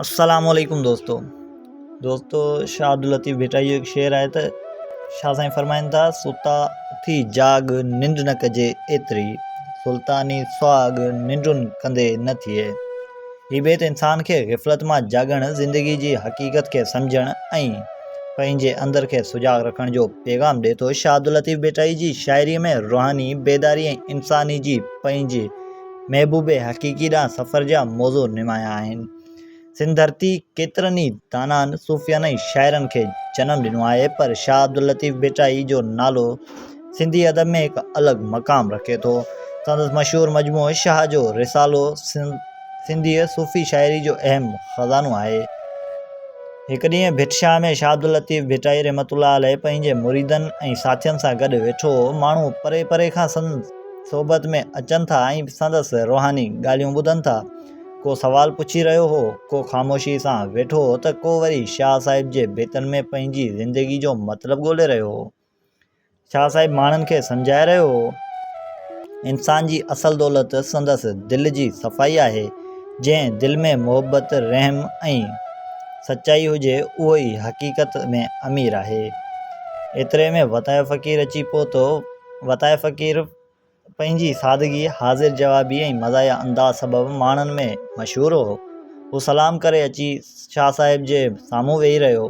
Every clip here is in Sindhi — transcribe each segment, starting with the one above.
السلام عليڪم دوستو دوستو شاھ عبداللطيف ڀٽائيء جو هڪ شعر آهي ته شاھ سائين فرمائن ٿا ستا اٿي جاڳ ننڊ نه ڪجي ايتري سلطاني سهاڳ ننڊون ڪندي نه ٿئي هي بيت انسان کي غفلت مان جاڳڻ زندگي جي حقيقت کي سمجهڻ ۽ پنهنجي اندر کي سجاڳ رکڻ جو پيغام ڏئي ٿو شاھ عبداللطيف ڀٽائي جي شاعري ۾ روحاني بيداري ۽ انساني جي پنهنجي محبوب حقيقي ڏانهن سفر جا موضوع نمايان آهن. سنڌ ڌرتي ڪيترن ئي دانائن، صوفيائن ۽ شاعرن کي جنم ڏنو آهي پر شاهه عبداللطيف ڀٽائي جو نالو سنڌي ادب ۾ هڪ الڳ مقام رکي ٿو. سندس مشهور مجموعو شاهه جو رسالو سنڌيء صوفي شاعري جو اهم خزانو آهي. هڪ ڏينهن ڀٽ شاهه ۾ شاهه عبداللطيف ڀٽائي رحمة الله عليه پنهنجي مريدن ۽ ساٿين سان گڏ ويٺو هو. ماڻهو پري پري کان سندس. صحبت ۾ اچن ٿا ۽ سندس روحاني ڳالهيون ٻڌن ٿا. ڪو سوال پڇي رهيو هو، ڪو خاموشيء سان ويٺو هو ته ڪو وري شاهه صاحب جي بيتن ۾ پنهنجي زندگيء جو مطلب ڳولي رهيو هو. شاهه صاحب ماڻهن کي سمجهائي رهيو هو، انسان جي اصل دولت سندس دل جي صفائي آهي، جنهن دل ۾ محبت، رحم ۽ سچائي هجي، اهو ئي حقيقت ۾ امير آهي. ايتري ۾ وتايو فقير اچي پهتو. وتايي فقير پنهنجي سادگيء، حاضر جوابيء ۽ مزاحيه انداز سبب ماڻهن ۾ مشهور هو. هو سلام ڪري اچي شاهه صاحب جي سامهون ويهي رهيو.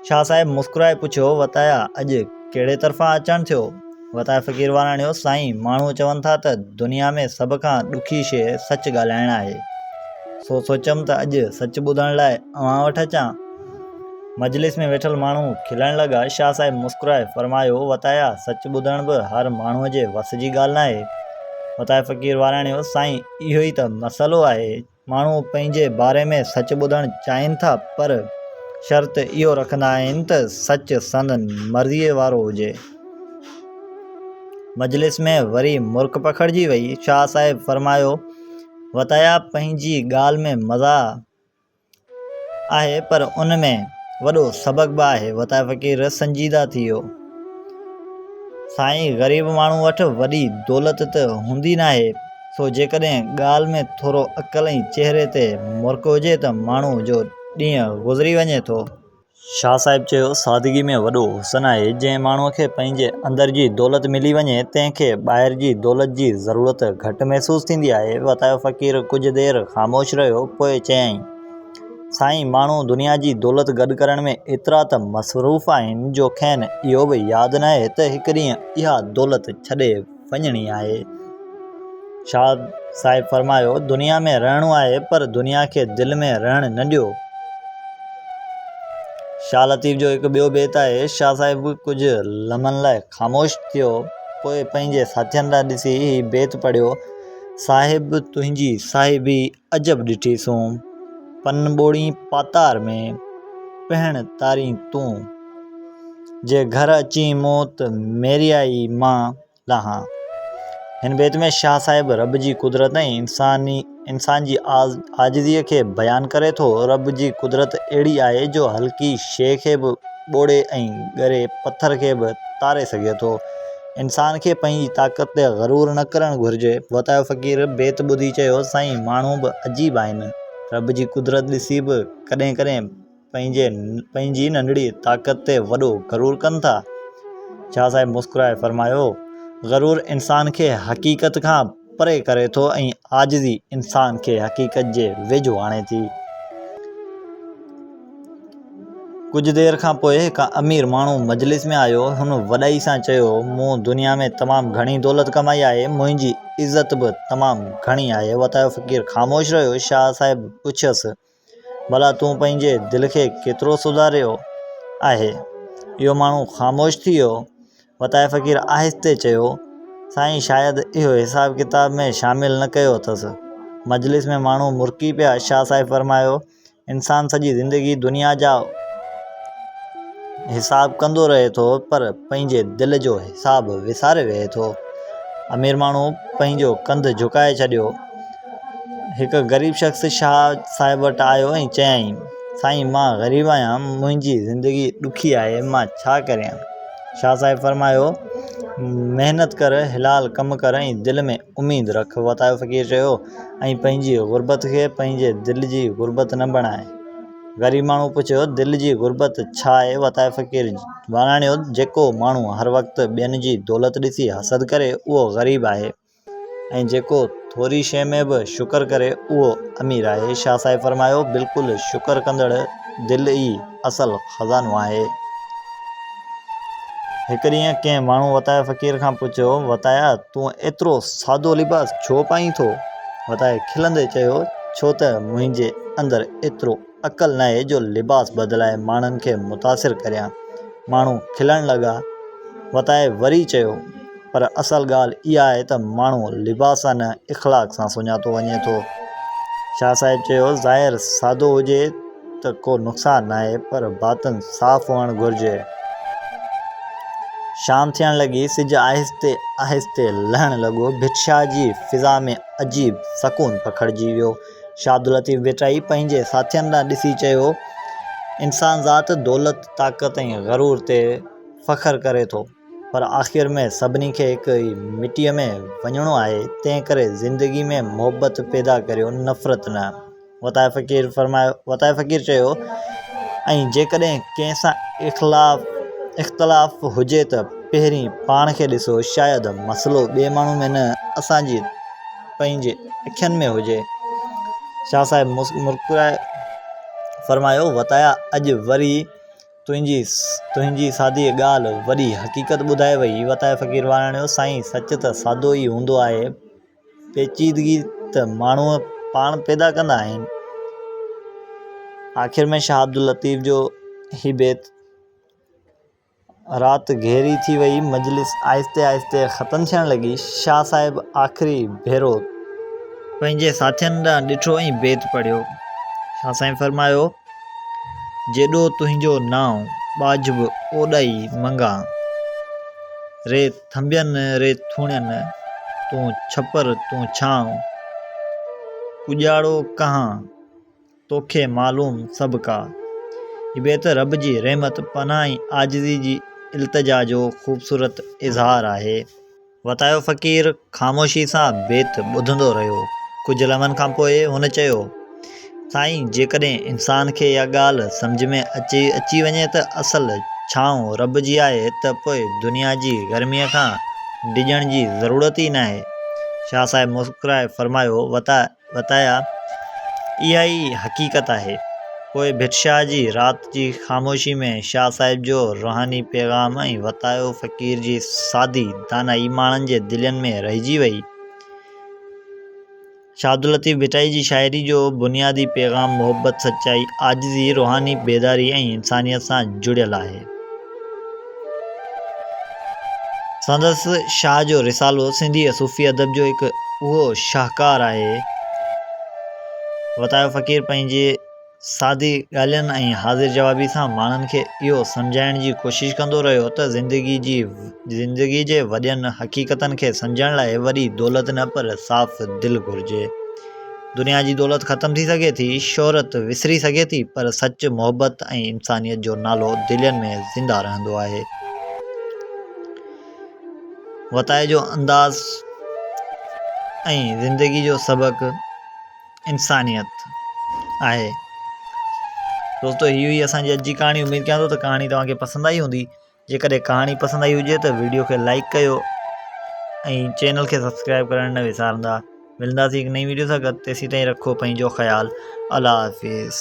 شاهه صاحب مسڪرائي پڇيو، وتايا اڄ ڪهڙي طرفان اچڻ ٿيو؟ وتايي فقير وراڻيو، سائين ماڻهو چون ٿا ته دنيا ۾ سڀ کان ڏکي شيء سچ ڳالهائڻ آهي، سو سوچيم ته اڄ سچ ٻڌڻ لاء اوهان وٽ اچان. مجلس ۾ ويٺل ماڻهو کلڻ لڳا. شاهه صاحب مسڪرائي فرمايو، وتايا! سچ ٻڌڻ به هر ماڻهوء جي وس جي ڳالهه ناهي. وتايا فقير واراڻيو، سائين اهو ئي ته مسئلو آهي. ماڻهو پنهنجي باري ۾ سچ ٻڌڻ چاهين ٿا پر شرط اهو رکندا آهن ته سچ سندن مرضيء وارو هجي. مجلس ۾ وري مرڪ پکڙجي وئي. شاهه صاحب فرمايو، وتايا پنهنجي ڳالهه ۾ مزاح آهي پر ان ۾ وڏو سبق به آهي وتايي فقير سنجيده ٿي ويو سائين غريب ماڻهو وٽ وڏي دولت ته هوندي ناهي سو جيڪڏهن ڳالهه ۾ ٿورو عقل ۽ چهري تي مرڪ هجي ته ماڻهو جو ڏينهن گذري وڃي ٿو شاهه صاحب چيو، سادگي ۾ وڏو حسن آهي، جنهن ماڻهوء کي پنهنجي اندر جي دولت ملي وڃي، تنهن کي ٻاهر جي دولت جي ضرورت گهٽ محسوس ٿيندي آهي. وتايو فقير ڪجهه دير خاموش رهيو، پوء چيائين، سائين، ماڻهو دنيا جي دولت گڏ ڪرڻ ۾ ايترا ته مصروف آهن، جو کين اهو به ياد ناهي ته هڪ ڏينهن اها دولت ڇڏي وڃڻي آهي. شاد صاحب فرمايو، دنيا ۾ رهڻو آهي پر دنيا کي دل ۾ رهڻ نه ڏيو. شاهه لطيف جو هڪ ٻيو بيت آهي. شاهه صاحب ڪجهه لمحن لاء خاموش ٿيو، پوء پنهنجي ساٿين ڏانهن ڏسي هي بيت پڙهيو، صاحب تنهنجي صاحبي عجب ڏٺي سون، پن ٻوڙين پاتار ۾، پهڻ تارين تون. جي گهر اچين موت، ميريائي مان لاهان. هن بيت ۾ شاهه صاحب رب جي قدرت ۽ انسان جي عاجزيء کي بيان ڪري ٿو، رب جي قدرت اهڙي آهي جو هلڪي شيء کي به ٻوڙي ۽ ڳري پٿر کي به تاري سگهي ٿو. انسان کي پنهنجي طاقت تي غرور نه ڪرڻ گهرجي. وتايو فقير بيت ٻڌي چيو، سائين ماڻهو به عجيب آهن. رب جي قدرت ڏسي به ڪڏهن ڪڏهن پنهنجي پنهنجي ننڍڙي طاقت تي وڏو غرور ڪن ٿا. شاهه صاحب مسڪرائي فرمايو، غرور انسان کي حقيقت کان پري ڪري ٿو ۽ عاجزي انسان کي حقيقت جي ويجهو آڻي ٿي. ڪجهه دير کان پوء هڪ امير ماڻهو مجلس ۾ آيو. هن وڏائي سان چيو، مون دنيا ۾ تمام گهڻي دولت ڪمائي آهي. منهنجي عزت به تمام گهڻي آهي. وتايو فقير خاموش رهيو. شاهه صاحب پڇيس. ڀلا تون پنهنجي دل کي ڪيترو سڌاريو آهي؟ اهو ماڻهو خاموش ٿي ويو. وتايي فقير آهستي چيو، سائين شايد اهو حساب ڪتاب ۾ شامل نه ڪيو اٿس. مجلس ۾ ماڻهو مرڪي پيا. شاهه صاحب فرمايو، انسان سڄي زندگي دنيا جا حساب ڪندو رهي ٿو پر پنهنجي دل جو حساب وساري ويهي ٿو. امير ماڻهو پنهنجو ڪنڌ جهڪائي ڇڏيو. هڪ غريب شخص شاهه صاحب وٽ آيو ۽ چيائين، سائين مان غريب آهيان، منهنجي زندگي ڏکي آهي، مان ڇا ڪريان؟ شاهه صاحب فرمايو، محنت ڪر، حلال ڪم ڪر ۽ دل ۾ اميد رک. وتايو فقير چيو، ۽ پنهنجي غربت کي پنهنجي دل جي غربت نه بڻاء. غريب ماڻهوء پڇيو، دل جي غربت ڇا آهي؟ وتايو فقير واڻايو، جيڪو ماڻهو هر وقت ٻين جي دولت ڏسي حسد ڪري، اهو غريب آهي. ۽ جيڪو ٿوري شيء ۾ به شڪر ڪري اهو امير آهي. شاهه صاحب فرمايو، بلڪل شڪر ڪندڙ دل ئي اصل خزانو آهي. هڪ ڏينهن ڪنهن ماڻهو وتايا فقير کان پڇيو، وتايا تون ايترو سادو لباس ڇو پائين ٿو؟ وتايا کلندي چيو، ڇو ته منهنجي اندر ايترو. عقل ناهي جو لباس بدلائي ماڻهن کي متاثر ڪريان. ماڻهو کلڻ لڳا. وتائي وري چيو، پر اصل ڳالهه اها آهي ته ماڻهو لباس سان نه اخلاق سان سڃاتو وڃي ٿو. شاهه صاحب چيو، ظاهر سادو هجي ته ڪو نقصان ناهي پر باطن صاف هئڻ گهرجي. شام ٿيڻ لڳي، سج آهستي آهستي لهڻ لڳو. ڀٽ شاهه جي فضا ۾ عجيب سڪون پکڙجي ويو. شاهد لطيف ڀٽائي پنهنجي ساٿين ڏانهن ڏسي چيو، انسان ذات دولت، طاقت ۽ غرور تي فخر ڪري ٿو، پر آخر ۾ سڀني کي هڪ ئي مٽيء ۾ وڃڻو آهي، تنهن ڪري زندگي ۾ محبت پيدا ڪريو، نفرت نه. وتايي فقير فرمايو، وتايي فقير چيو، ۽ جيڪڏهن ڪنهن سان اخلاف، اختلاف، هجي ته پهرين پاڻ کي ڏسو، شايد مسئلو ٻئي ماڻهو ۾ نه، اسان جي پنهنجي اکين ۾ هجي. شاهه صاحب مسڪرائي فرمايو، وتايا اڄ وري تنهنجي تنهنجي سادي ڳالهه وڏي حقيقت ٻڌائي وئي. وتايا فقير واراڻيو، سائين سچ ته سادو ئي هوندو آهي، پيچيدگي ته ماڻهو پاڻ پيدا ڪندا آهن. آخر ۾ شاهه عبداللطيف جو هي بيت. رات گهري ٿي وئي، مجلس آهستي آهستي ختم ٿيڻ لڳي، شاهه صاحب آخري ڀيرو پنهنجي ساٿين ڏانهن ڏٺو ۽ بيت پڙهيو، شاهه سائين فرمايو، جيڏو تنهنجو نانء ٻاجهه به اوڏائي منگان، ري ٿنڀين ري ٿوڻين، تون ڇپر تون ڇانء، ڪڄاڙو ڪهان. توکي معلوم سڀ ڪا. هي بيت رب جي رحمت، پناهه ۽ عاجزي جي التجا جو خوبصورت اظهار آهي. وتايو فقير خاموشي سان بيت ٻڌندو رهيو. ڪجهه لمحن کان پوء هن چيو، سائين جيڪڏهن انسان کي اها ڳالهه سمجهه ۾ اچي اچي وڃي ته اصل ڇانو رب جي آهي ته پوء دنيا جي گرميء کان ڊڄڻ جي ضرورت ئي ناهي. شاهه صاحب مسڪرائي فرمايو، وتايو وتايا، اها ئي حقيقت آهي. پوء ڀٽ شاهه جي رات جي خاموشي ۾ شاهه صاحب جو روحاني پيغام ۽ وتايو فقير جي سادي دانائي ماڻهن جي دلين ۾ رهجي وئي. شاهه عبداللطيف ڀٽائي جي شاعري جو بنيادي پيغام محبت، سچائي، عاجزي، روحاني بيداري ۽ انسانيت سان جڙيل آهي. سندس شاهه جو رسالو سنڌي ۽ صوفي ادب جو هڪ اهو شاهڪار آهي. وتايو فقير پنهنجي سادي ڳالهين ۽ حاضر جوابي سان ماڻهن کي اهو سمجهائڻ جي ڪوشش ڪندو رهيو ته زندگي جي زندگي جي وڏين حقيقتن کي سمجهڻ لاء وڏي دولت نه پر صاف دل گهرجي. دنيا جي دولت ختم ٿي سگهي ٿي، شهرت وسري سگهي ٿي پر سچ، محبت ۽ انسانيت جو نالو دلين ۾ زنده رهندو آهي. وتايي جو انداز ۽ زندگي جو سبق انسانيت آهي. دوستو هي هئي اسان جي اڄ جي ڪهاڻي اميد ڪيان ٿو ته ڪهاڻي توهان کي پسند آئي هوندي. جيڪڏهن ڪهاڻي پسند آئي هجي ته ويڊيو کي لائڪ ڪيو ۽ چينل کي سبسڪرائب ڪرڻ نه وسارندا ملنداسين هڪ نئين ويڊيو سان گڏ تيسين تائين رکو پنهنجو خيال الله حافظ